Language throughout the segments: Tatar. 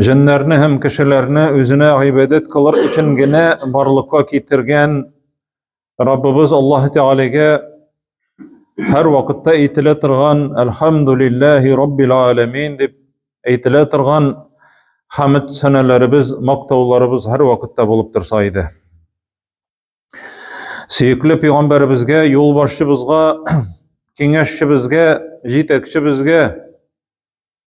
Җеннәрне һәм кешеләрне үзенә гыйбадәт кылыр өчен генә барлыкка китергән Раббыбыз Аллаһ Тәгаләгә һәр вакытта әйтелә торган Әлхәмдулиллаһи Раббил Аламин дип әйтелә торган хәмд сәнәләребез, мактауларыбыз һәр вакытта булып торса иде. Сөекле пәйгамбәребезгә, юлбашчыбызга, киңәшчебезгә, җитәкчебезгә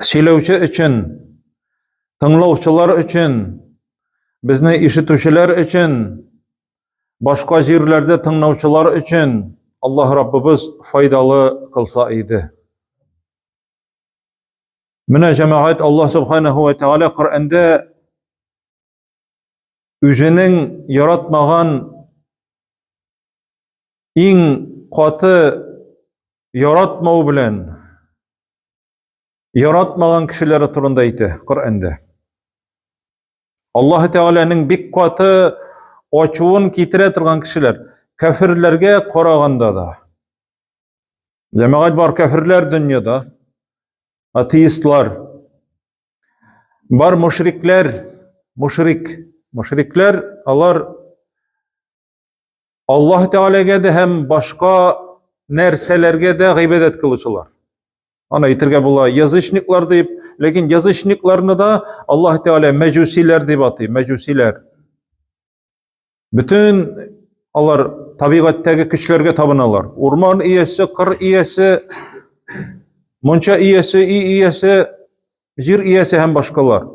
Сөйләүче өчен, тыңлаучылар өчен, безне ишетүчеләр өчен, башка җирләрдә тыңлаучылар өчен Аллаһ Раббыбыз файдалы кылса иде. Менә җәмәгать Аллаһ Субханаһу ва Тәгалә Коръәндә үзенең яратмаган иң каты яратмау белән яратмаган кешеләре турында әйтә Коръәндә. Аллаһ Тәгаләнең бик каты ачуын китерә торган кешеләр кәфирләргә караганда да. Җәмәгать бар кәфирләр дөньяда, атеистлар. Бар мушрикләр, мушрик, мушрикләр, алар Аллаһ Тәгаләгә дә һәм башка нәрсәләргә дә гыйбадәт кылучылар. Аны әйтергә була язычниклар дип, ләкин язычникларны да Аллаһ Тәгалә мәҗүсиләр дип атый, мәҗүсиләр. Бөтен алар табигатьтәге көчләргә табыналар. Урман иясе, кыр иясе, монча иясе, и иясе, җир иясе һәм башкалар.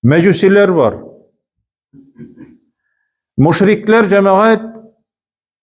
Мәҗүсиләр бар. Мушрикләр җәмәгать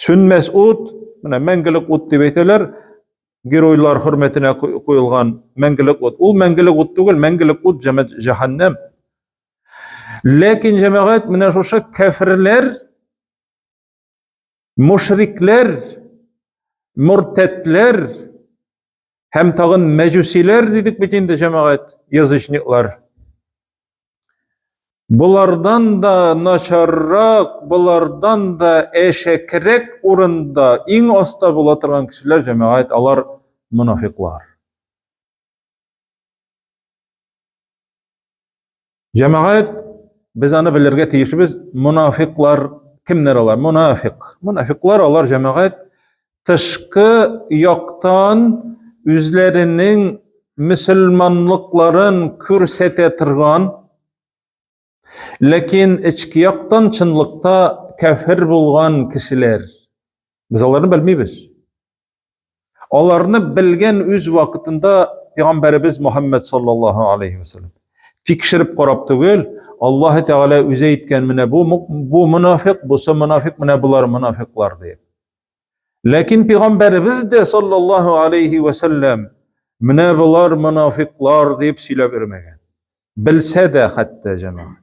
Сүнмәс ут, менә мәңгелек ут дип әйтәләр, геройлар хөрмәтенә куелган мәңгелек ут. Ул мәңгелек ут түгел, мәңгелек ут җәһәннәм. Ләкин җәмәгать менә шушы кәферләр, мушрикләр, муртәтләр Һәм тагын мәҗүсиләр дидек бит инде җәмәгать, язычниклар. Болардан да начаррак, болардан да әшәкрәк урында иң аста була торган кешеләр җәмәгать, алар монафиклар. Җәмәгать, без аны белергә тиешбез, мунафиклар кемнәр алар? Мунафик. Мунафиклар алар җәмәгать тышкы яктан үзләренең мөселманлыкларын күрсәтә торган, ләкин эчке яктан чынлыкта кәфер булган кешеләр. Без аларны белмибез. Аларны белгән үз вакытында пәйгамбәребез Мөхәммәд саллаллаһу алейхи вәсәлләм. Тикшереп карап түгел, Аллаһы Тәгалә үзе әйткән менә бу бу мунафиқ, бусы мунафиқ, менә булар мунафиклар дип. Ләкин пәйгамбәребез дә саллаллаһу алейхи вәсәлләм менә булар мунафиклар дип сөйләп йөрмәгән. Белсә дә хәтта җәмәгать.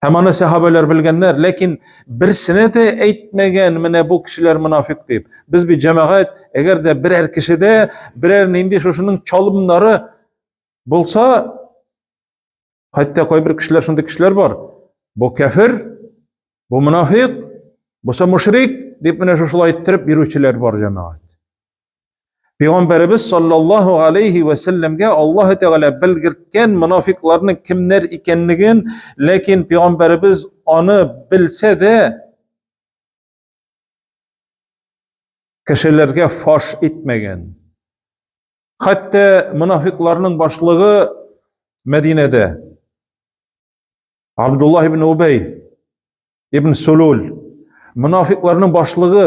Һәм аны сәхабәләр белгәннәр, ләкин берсенә дә әйтмәгән, менә бу кешеләр мунафик дип. Без бит җәмәгать, әгәр дә берәр кешедә берәр нинди шушының чалымнары булса, хәтта кайбер кешеләр шундый кешеләр бар. Бу кәфир, бу мунафик, бу мушрик дип менә шушылай иттереп йөрүчеләр бар җәмәгать. Пәйгамбәребез саллаллаһу алейхи ва сәлләмгә Аллаһ Тәгалә белгерткән мунафикларның кемнәр икәнлеген, ләкин пәйгамбәребез аны белсә дә кешеләргә фаш итмәгән. Хәтта мунафикларның башлыгы Мәдинәдә Абдулла ибн Убей ибн Сулул мунафикларның башлыгы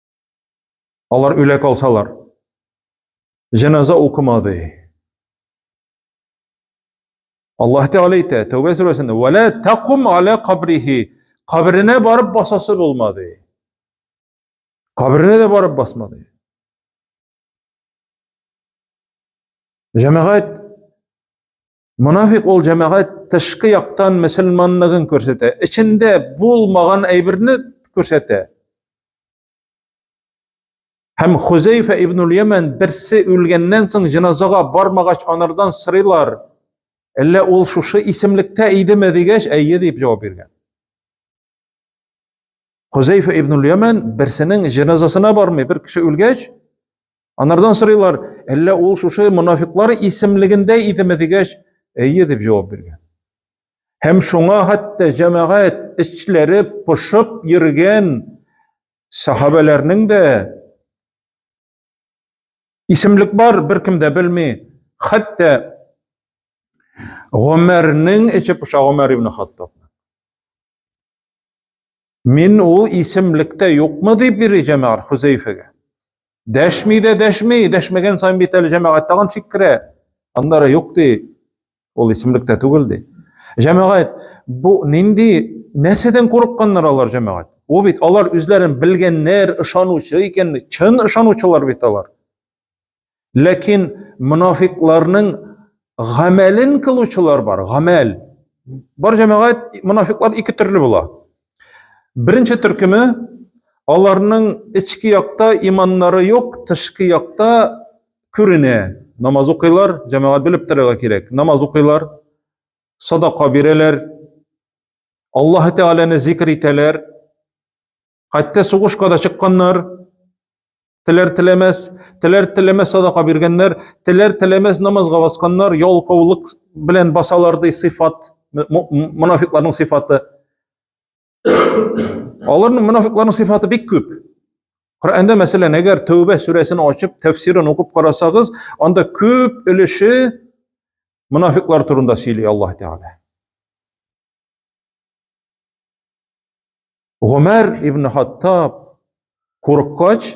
Алар үлә калсалар, җеназа укымады. Аллаһ Тәгалә әйтә, Тәүбә сүрәсендә, "Ва ла такум аля кабрихи", кабренә барып басасы булмады. Кабренә дә барып басмады. Җәмәгать Мунафик ул җәмәгать тышкы яктан мөселманлыгын күрсәтә, эчендә булмаган әйберне күрсәтә. Һәм Хузейфа ибн Ямен берсе үлгәннән соң җиназага бармагач анардан сырыйлар. Әллә ул шушы исемлектә идеме дигәч, әйе дип җавап биргән. Хузейфа ибн Ямен берсенең җеназасына бармый, бер кеше үлгәч, анардан сорыйлар, әллә ул шушы мунафиклар исемлегендә идеме дигәч, әйе дип җавап биргән. Һәм шуңа хәтта җәмәгать эчләре пошып йөргән сахабәләрнең дә Исемлек бар, бер кем дә белми. Хәтта Гомәрнең эче пыша Гомәр ибн Хаттаб. Мин ул исемлектә юкмы дип йөри җәмәгать Хузәйфәгә. Дәшми дә дәшми, дәшмәгән саен бит әле җәмәгать тагын шиккерә. Аннары юк ди. Ул исемлек тә түгел ди. Җәмәгать, бу нинди нәрсәдән курыкканнар алар җәмәгать? Ул бит алар үзләрен белгәннәр, ышанучы икән, чын ышанучылар бит алар. Ләкин мунафикларның гамәлен кылучылар бар, гамәл. Бар җәмәгать мунафиклар ике төрле була. Беренче төркеме аларның эчке якта иманнары юк, тышкы якта күренә. Намаз укыйлар, җәмәгать белеп торырга кирәк. Намаз укыйлар, садака бирәләр, Аллаһ Тәгаләне зикр итәләр. Хәтта сугышка да чыкканнар. Теләр теләмәс, теләр теләмәс садака биргәннәр, теләр теләмәс намазга басканнар, ялкаулык белән басалар ди сыйфат, монафикларның сыйфаты. Аларның мунафикларның сыйфаты бик күп. Коръәндә, мәсәлән, әгәр Тәүбә сүрәсен ачып, тәфсирен укып карасагыз, анда күп өлеше мунафиклар турында сөйли Аллаһ Тәгалә. Гомәр ибн Хаттаб курыккач,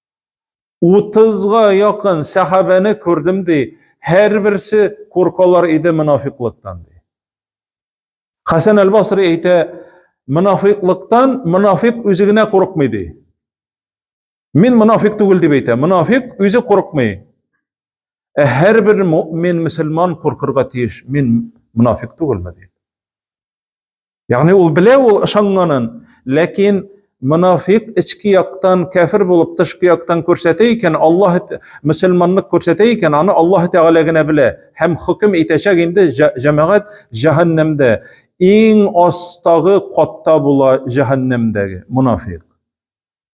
Утызга якын сәхабәне күрдем, ди. Һәрберсе куркалар иде мунафиклыктан, ди. Хәсән әл-Басри әйтә, мунафиклыктан мунафик үзе генә курыкмый, ди. Мин мунафик түгел дип әйтә. Мунафик үзе курыкмый. Ә һәрбер мөмин, мөселман куркырга тиеш. Мин мунафик түгелме, ди. Ягъни ул белә ул ышанганын, ләкин монафик эчке яктан кәфир булып тышкы яктан күрсәтә икән, Аллаһ мусламанлык күрсәтә икән, аны Аллаһ Тәгалә генә белә һәм хөкем итәчәк инде җәмәгать җәһәннәмдә. Иң астагы катта була җәһәннәмдәге монафик.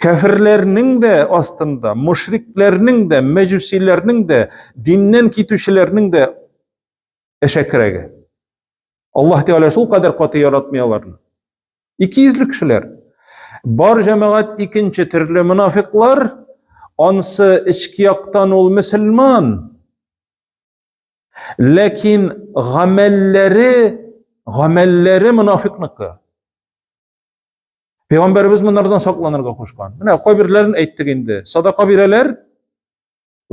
Кәфирләрнең дә астында, мушрикләрнең дә, мәҗүсиләрнең дә, диннән китүчеләрнең дә әшәкерәге. Аллаһ Тәгалә шул кадәр каты яратмый аларны. Икейөзле кешеләр. Бар җәмәгать икенче төрле мунафиклар, ансы эчке яктан ул мөселман, ләкин гамәлләре, гамәлләре мунафикныкы. Пәйгамбәребез моннардан сакланырга кушкан. Менә кайберләрен әйттек инде. Садака бирәләр,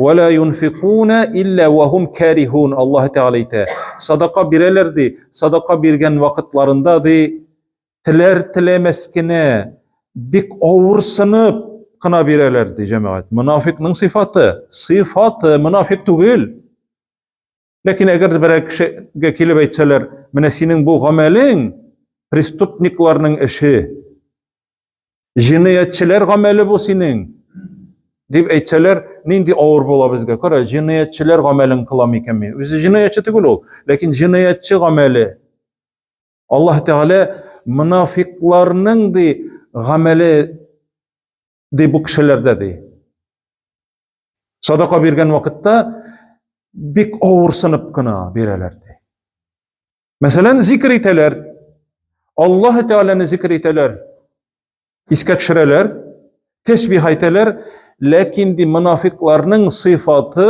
вәлә юнфикуна илля вахум карихун. Аллаһ Тәгалә әйтә. Садака бирәләр ди, садака биргән вакытларында ди, теләр теләмәс кенә бик авырсынып кына бирәләр ди, җәмәгать. Мунафикның сыйфаты, сыйфаты мунафик түгел. Ләкин әгәр берәр кешегә килеп әйтсәләр, менә синең бу гамәлең преступникларның эше, җинаятьчеләр гамәле бу синең, дип әйтсәләр, нинди авыр була безгә. Кара, җинаятьчеләр гамәлен кылам икән мин. Үзе җинаятьче түгел ул, ләкин җинаятьче гамәле. Аллаһ Тәгалә мунафикларның ди гамәле ди бу кешеләрдә ди. Садака биргән вакытта бик авырсынып кына бирәләр ди. Мәсәлән, зикр итәләр. Аллаһ Тәгаләне зикр итәләр. Искә төшерәләр, тәсбих әйтәләр, ләкин ди мунафикларның сыйфаты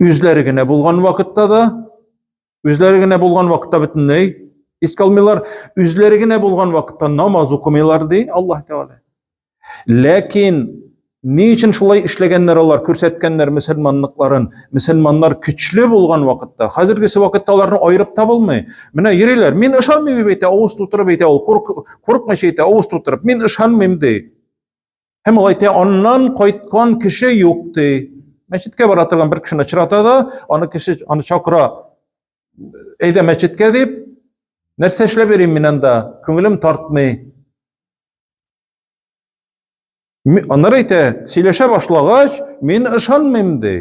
Үзләре генә булган вакытта да, үзләре генә булган вакытта бөтенләй искә алмыйлар, үзләре генә булган вакытта намаз укымыйлар, ди Аллаһ Тәгалә. Ләкин ни өчен шулай эшләгәннәр алар, күрсәткәннәр мөселманлыкларын? Мөселманнар көчле булган вакытта, хәзергесе вакытта аларны аерып табылмый. Менә йөриләр, мин ышанмыйм дип әйтә, авыз тутырып әйтә ул, куркмыйча әйтә, авыз тутырып, мин ышанмыйм ди. Һәм ул әйтә, аннан кайткан кеше юк ди. Мәчеткә бара торган бер кешене очрата да, аны кеше аны чакыра. Әйдә мәчеткә дип, нәрсә эшләп йөрим мин анда? Күңелем тартмый. Аннары әйтә, сөйләшә башлагач, мин ышанмыйм ди.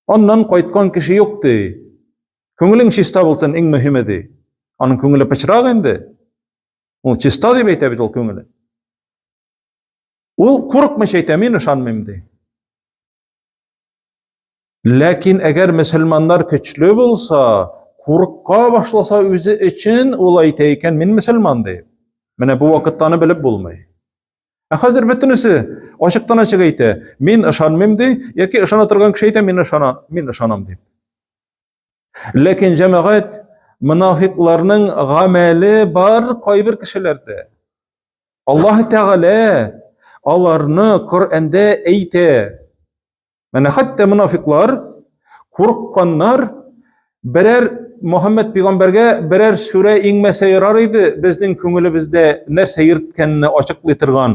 Аннан кайткан кеше юк ди. Күңелең чиста булсын, иң мөһиме ди. Аның күңеле пычрак инде. Ул чиста дип әйтә бит ул күңеле. Ул курыкмыйча әйтә, мин ышанмыйм ди. Ләкин әгәр мөселманнар көчле булса, курыкка башласа үзе өчен ул әйтә икән, мин мөселман ди. Менә бу вакытта аны белеп булмый. Ә хәзер бөтенесе ачыктан ачык әйтә, мин ышанмыйм ди, яки ышана торган кеше әйтә, мин ышана, мин ышанам дип. Ләкин җәмәгать монафикларның гамәле бар кайбер кешеләрдә. Аллаһ Тәгалә аларны Коръәндә әйтә. Менә хәтта монафиклар курыкканнар, берәр Мөхәммәд пигамбәргә берәр сүрә иңмәсә ярар иде, безнең күңелебездә нәрсә йөрткәнне ачыклый торган.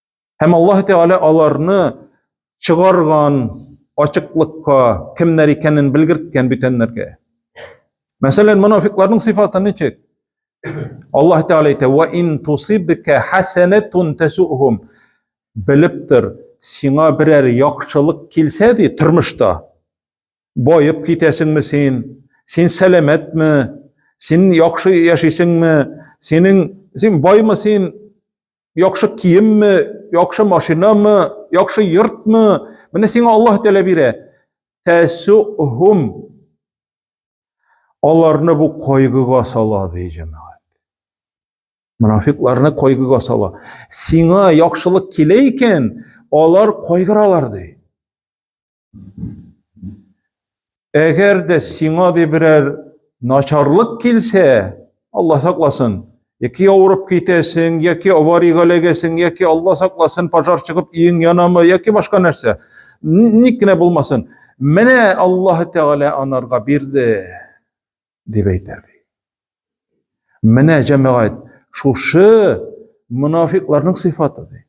Һәм Аллаһ Тәгалә аларны чыгарган ачыклыкка кемнәр икәнен белгерткән бүтәннәргә. Мәсәлән, монафикларның сыйфаты ничек? Аллаһ Тәгалә әйтә: "Ва ин тусибка хасанатун тасухум" Белеп тор, сиңа берәр яхшылык килсә ди тормышта, баеп китәсеңме син? Син сәламәтме? Син яхшы яшисеңме? Синең син баймы син? Яхшы киемме, яхшы машинамы, яхшы йортмы? Менә сиңа Аллаһ Тәгалә бирә. Тәсухум. Аларны бу кайгыга сала, ди җәмәгать. Мунафикларны кайгыга сала. Сиңа яхшылык килә икән, алар кайгыралар, ди. Әгәр дә сиңа ди берәр начарлык килсә, Алла сакласын, яки авырып китәсең, яки аварийга эләгәсең, яки Алла сакласын, пожар чыгып иең янамы, яки башка нәрсә. Ник кенә булмасын. Менә Аллаһ Тәгалә анарга бирде. дип әйтә ди. Менә җәмәгать шушы мунафикларның сыйфаты ди.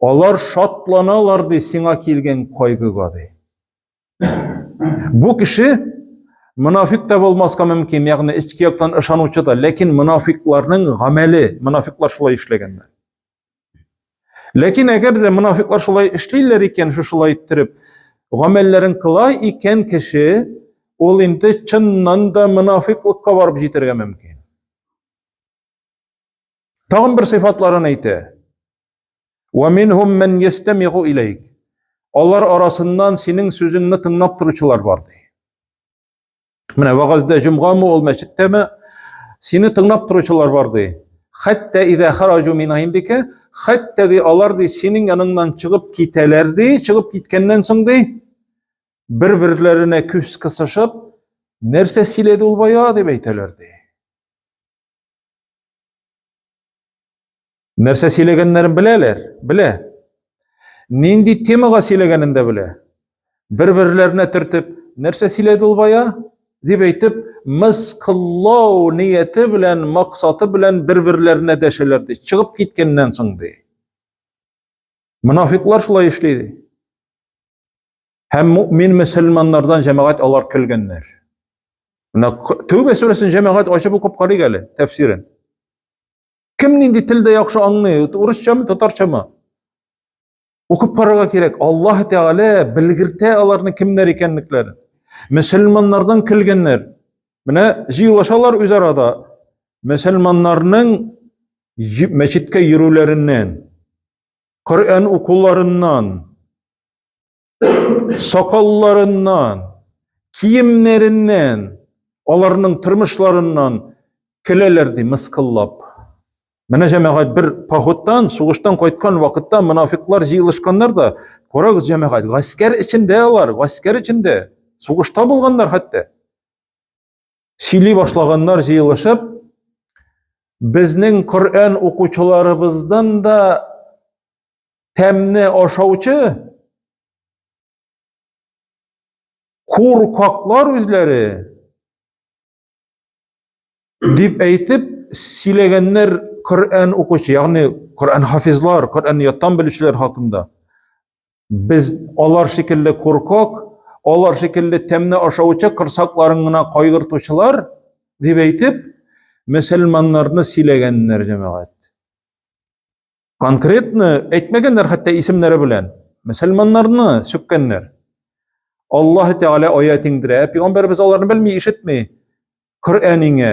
Алар шатланалар ди сиңа килгән кайгыга ди. Бу кеше мунафик та булмаска мөмкин, ягъни эчке яктан ышанучы да, ләкин мунафикларның гамәле, мунафиклар шулай эшләгәннәр. Ләкин әгәр дә мунафиклар шулай эшлиләр икән, шушылай иттереп, гамәлләрен кыла икән кеше, ул инде чыннан да мунафиклыкка барып җитәргә мөмкин. Тагын бер сыйфатларын әйтә. Ва минһум ман ястамигу илейк. Алар арасыннан синең сүзеңне тыңлап торучылар бар ди. Менә вагазда җомгамы ул мәчеттәме? Сине тыңлап торучылар бар ди. Хәтта ида хараҗу мин индике, хәтта ди алар ди синең яныңнан чыгып китәләр ди, чыгып киткәннән соң ди бер-берләренә күз кысышып, нәрсә сөйләде ул бая дип әйтәләр ди. Нәрсә сөйләгәннәрен беләләр? Белә. Нинди темага сөйләгәнен дә белә. Бер-берләренә төртеп, нәрсә сөйләде ул бая? дип әйтеп, мыскыллау нияте белән, максаты белән бер-берләренә дәшәләр ди. Чыгып киткәннән соң ди. Мунафиклар шулай эшли ди. Һәм мөмин мөселманнардан җәмәгать алар көлгәннәр. Менә Тәүбә сүрәсен җәмәгать ачып укып карыйк әле тәфсирен. Кем нинди телдә яхшы аңлый, урысчамы, татарчамы? Укып карарга кирәк. Аллаһ Тәгалә белгертә аларны кемнәр икәнлекләрен. Мөселманнардан көлгәннәр. Менә җыелышалар үз арада. Мөселманнарның мәчеткә йөрүләреннән, Коръән укуларыннан, сакалларыннан, киемнәреннән, аларның тормышларыннан көләләр ди мыскыллап. Менә җәмәгать бер походтан, сугыштан кайткан вакытта мунафиклар җыелышканнар да, карагыз җәмәгать, гаскәр эчендә алар, гаскәр эчендә, сугышта булганнар хәтта. Сөйли башлаганнар җыелышып, безнең Коръән укучыларыбыздан да тәмне ашаучы куркаклар үзләре дип әйтеп сөйләгәннәр Коръән укучы, ягъни Коръән хафизлар, Коръән яттан белүчеләр хакында. Без алар шикелле куркак, алар шикелле тәмне ашаучы кырсакларын гына кайгыртучылар дип әйтеп, мөселманнарны сөйләгәннәр җәмәгать. Конкретно әйтмәгәннәр хәтта исемнәре белән. Мөселманнарны сөккәннәр. Аллаһ Тәгалә аят иңдерә, пәйгамбәрбез аларны белми, ишетми. Коръәнеңә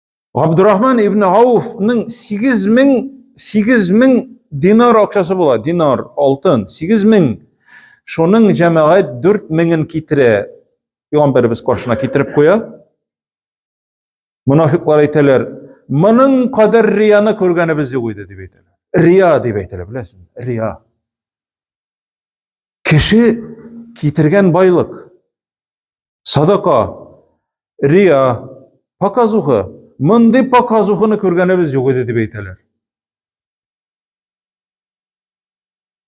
Габдурахман ибн Ауфның 8000 8000 динар акчасы була, динар, алтын, 8000. Шуның җәмәгать 4000-ын китерә. Пәйгамбәрбез каршына китереп куя. Мунафиклар әйтәләр, моның кадәр рияны күргәнебез юк иде дип әйтәләр. Рия дип әйтәләр, беләсең? Рия. Кеше китергән байлык Садака, рия, показуха, мондый показуханы күргәнебез юк иде дип әйтәләр.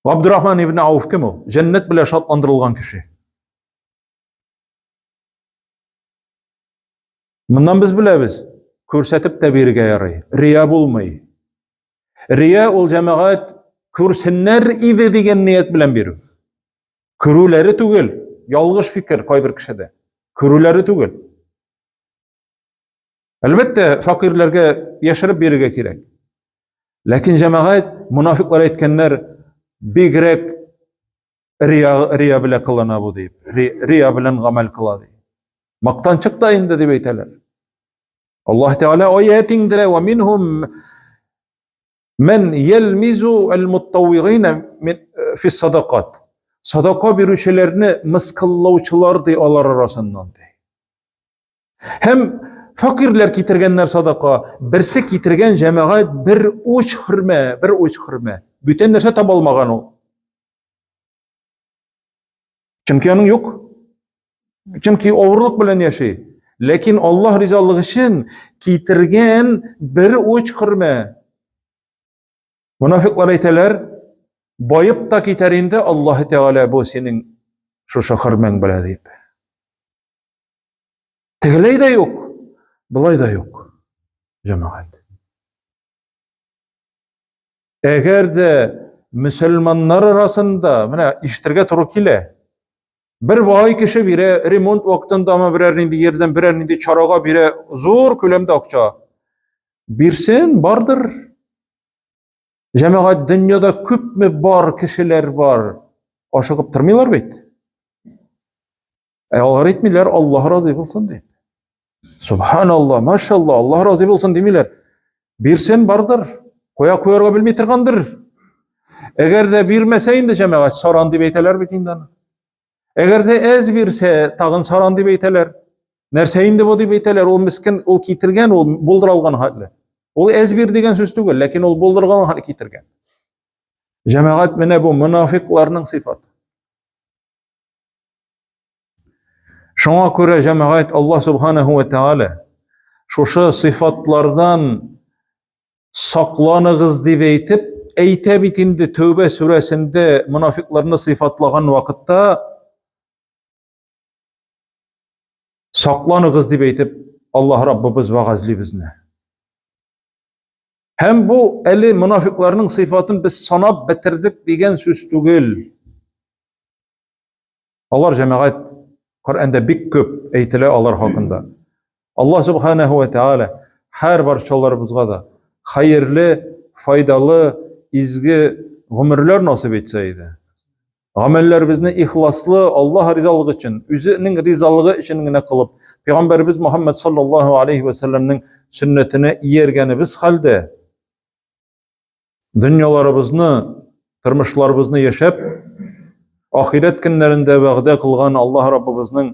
Абдурахман ибн Ауф кем ул? Җәннәт белән шатландырылган кеше. Моннан без беләбез, күрсәтеп тә бирергә ярый. Рия булмый. Рия ул җәмәгать күрсеннәр иде дигән ният белән бирү. Күрүләре түгел, ялгыш фикер кайбер кешедә. Күрүләре түгел. Әлбәттә, факирләргә яшереп бирергә кирәк. Ләкин җәмәгать, мунафиклар әйткәннәр, бигрәк рия, рия белә кылына бу дип. Рия белән гамәл кыла ди. Мактанчык та инде дип әйтәләр. Аллаһ Тәгалә аят иңдерә, "Ва минһум Мен елмизу әл-муттауигина фи садакат. Садака бирүчеләрне мыскыллаучылар ди алар арасыннан ди. Һәм фәкыйрьләр китергәннәр садака, берсе китергән җәмәгать бер уч хөрмә, бер уч хөрмә. Бүтән нәрсә таба алмаган ул. Чөнки аның юк. Чөнки авырлык белән яши. Ләкин Аллаһ ризалыгы өчен китергән бер уч хөрмә. Мунафиклар әйтәләр, байып та китәр инде Аллаһ Тәгалә бу синең шушы хөрмәң белән дип. Тегеләй дә юк, былай да юк. Җәмәгать. Әгәр дә мөселманнар арасында, менә ишетергә туры килә. Бер бай кеше бирә, ремонт вакытындамы берәр нинди ярдәм, берәр нинди чарага бирә, зур күләмдә акча. Бирсен, бардыр. Җәмәгать дөньяда күпме бар кешеләр бар. Ашыгып тормыйлар бит. Ә алар әйтмиләр, Аллаһ разый булсын дип. Субханалла, машалла, Аллаһ разый булсын димиләр. Бирсен бардыр, куя куярга белми торгандыр. Әгәр дә бирмәсә инде җәмәгать саран дип әйтәләр бит инде аны. Әгәр дә әз бирсә, тагын саран дип әйтәләр. Нәрсә инде бу дип әйтәләр, ул мискен, ул китергән, ул булдыра алган хәтле. Ул әз бир дигән сүз түгел, ләкин ул булдырган хәтле китергән. Җәмәгать менә бу мунафикларның сыйфаты. Шуңа күрә җәмәгать Алла субханаһу ва тааля шушы сыйфатлардан сакланыгыз дип әйтеп, әйтә бит инде Тәүбә сүрәсендә мунафикларны сыйфатлаган вакытта сакланыгыз дип әйтеп Аллаһ Раббыбыз вәгазьли безне. Һәм бу әле монафикларның сыйфатын без санап бетердек дигән сүз түгел. Алар җәмәгать Коръәндә бик күп әйтелә алар хакында. Аллаһ субханаһу ва тааля һәр барчаларыбызга да хәерле, файдалы, изге гомерләр насыйп итсә иде. Гамәлләребезне ихласлы, Аллаһ ризалыгы өчен, үзенең ризалыгы өчен генә кылып, Пәйгамбәрбез Мөхәммәд саллаллаһу алейхи ва сәлламнең сөннәтенә ияргәнебез хәлдә, дөньяларыбызны, тормышларыбызны яшәп, ахирәт көннәрендә вәгъдә кылган Аллаһ Раббыбызның